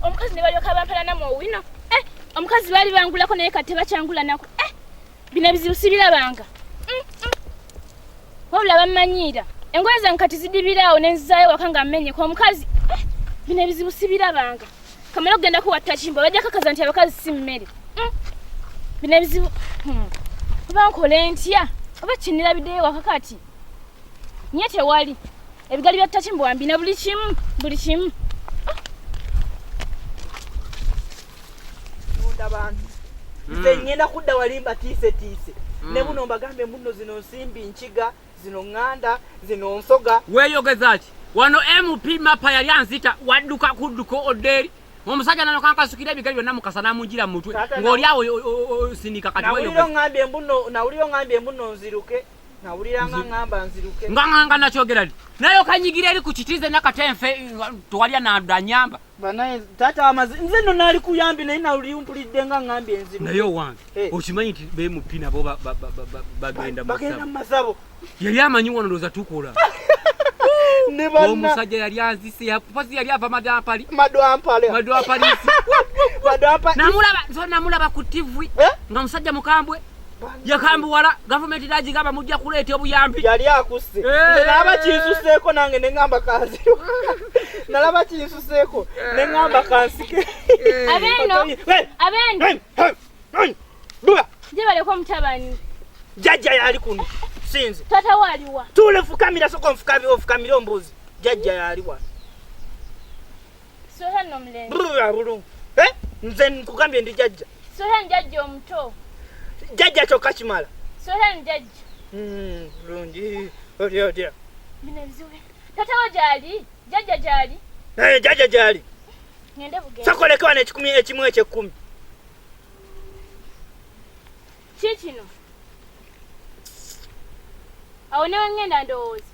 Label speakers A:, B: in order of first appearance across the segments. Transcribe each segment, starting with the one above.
A: omukazi ne balyoka bampalanamu owino eh, omukazi baali bangulako naye kati tebakyangulanako eh, bino ebizibu sibirabanga mm, mm. wabula bammanyiira engoye zange kati zidibiraawo nenzizaayo waka nga mmenyeka omukazi eh, bino ebizibu sibirabanga kamala okugenda kuwatta kimbo bajja kakaza nti abakazi si mmere mm. bino ebizibu hmm. oba nkole ntya oba kinirabideyo wakakati nye tewali ebigali bya ttaki mbwambi na buli kimu buli kimu
B: abantu hmm. nze ngenda kudda wali mbatiisetiise hmm. ne buno mbagambe mbuno zino nsimbi nkiga zino ŋŋanda zino nsoga weeyogeza ki
C: wano mp mapa yali anzita wadduka kudduka oddeeri omusajja nano kankasukira ebigali byonna mukasa namunjira mumutwe ng'oli awo sindika kati nawulira
B: ongambye mbuno nziruke nganganga nakyogera li
C: naye okanyigira eri ku kiti nze nakatenfe tewali anadanyamba
B: nze no nali kuyambi naye nalimpulidde nga ngambye enzibu naye owange eh.
C: okimanyi nti bemupi nabo bagenda mumazabo
B: yali amanyi wano
C: ndoza tukola omusajja yali anzise yakupazi yali ava madampali madampali madampali namulaba so namulaba ku tv eh? nga musajja mukambwe yakambuwala gavumenti nagigamba mujja kuleeta obuyambi yali akusse
B: eh. nalaba kinsuseeko nange neŋamba kanziro nalaba kinsuseeko eh. neŋamba kansike eh. abeno
A: abeno jebaleko omutabani jajja yali
B: kuno sinze tata waliwa
A: tule fukamira soko
B: nfukamire ombuzi jajja yaliwa
A: abulungu eh?
B: nze nkugambye ndi jajja jajja omuto
A: jajja
B: kyokka kimala
A: hmm, bulungi
B: oli otya
A: tatawo gyali jajja gyali eh, jajja gyali sokolekewa nekikumi ekimu
B: ekyekkumi
A: kikino awo newengenda ndowooza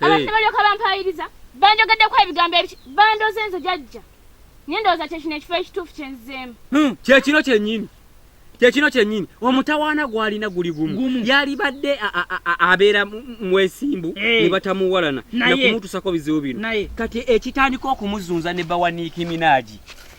A: abantu ne balyoka bampaayiriza banjogeddeko ebigambo ebiki bandoze nze jajja naye ndowooza kyekino ekifo ekituufu kyenzizeemu hmm, kyekino kyennyini
C: kyekino kyennyini omutawaana gwalina guli gumu yalibadde abeera mwesimbu eh. ne batamuwalana nakumutusako bizibu bino kati ekitandika okumuzunza ne bawaniikiminaaji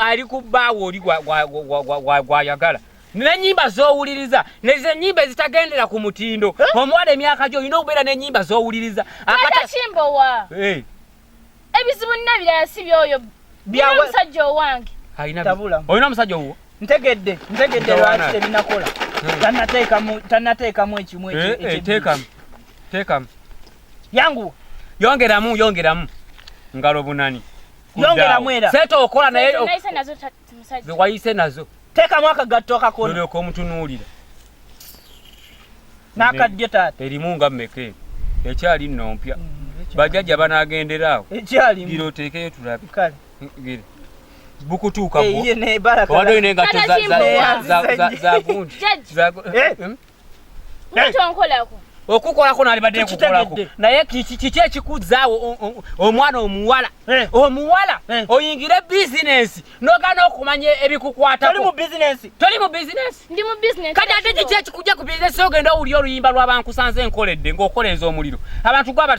C: ali ku bbaawo oli gwayagala nenyimba zowuliriza nezenyimba ezitagendera ku mutindo omuwala emyaka gyo olina okubeera nenyimba zowuliriza
A: ebizibu nina birala si byoyo bina omusajja owange olina
C: omusajja owuwo ntegedde ntegedde
B: lwaki tebinakola hmm. tanateekamu ekimu eh, eh,
C: teekamu
B: yanguwa yongeramu
C: yongeramu ngalo bunani yongeramu era
B: sente okola naye
C: ze
A: wayise nazo
C: teekamu akagatto
B: akakona olyoka omutunuulira n'akaddyo taata erimu nga mmeka eno
C: ekyali nno mpya mm, bajajja banaagendera awo ekyaligira oteekeyo tulabe kale gira bukutuuka bwo eh, wadde olina engatto za
A: gundi
C: Mutonkolako. okukolako nalibadde nkukolako naye kiki ekikuzaawo omwana omuwala eh. omuwala eh. oyingire bizinensi nogana okumanya ebikukwatali mu bizinensi kati ate kiki ekikujja ku bizinensi ogenda owulya oluyimba lwabankusanze enkoledde ngaokola enza omuliro abantu gwaba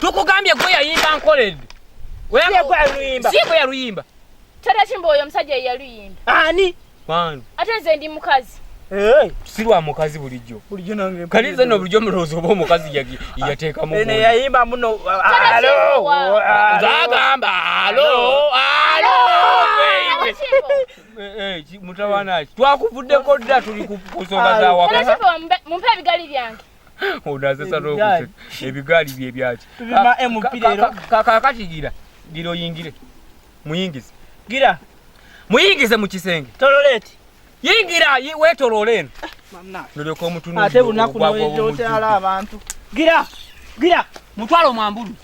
C: tukugambye gwe yayimba nkoledde si gwe yaluyimba tata kimba oyo
A: omusajja yeyaluyimba ani
B: kwani ate nze
A: ndi mukazi si lwa
C: mukazi bulijjo kali nze no bulijjo mulowooza oba omukazi yateekamuyayimba muno agamba alo alo mutawanaki twakuvuddeko dda tuli ku nsonga zawaka mumpe ebigali
A: byange ono asesa
C: n'okuseka ebigaali bye byaki kakati gira gira oyingire muyingize gira muyingize mu kisenge tololeeti
B: yingira
C: wetoloole eno nolyoka omutunuate bunaku
B: noyingira okyala abantu gira gira
C: mutwalo mwambulu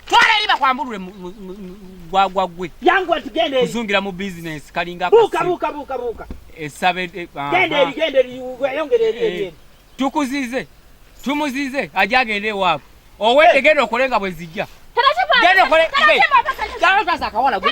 C: twala eri bakwambulule gwagwa gwe yangu atugende
B: kuzungira mu business
C: kalinga buka buka buka buka
B: esabe
C: eh, ah, gende ah. eri gende
B: eri yongere eri eri eh, tukuzize
C: tumuzize ajagende ewaabwe owete eh. genda okole nga bwe zijja genda okole akawala gwe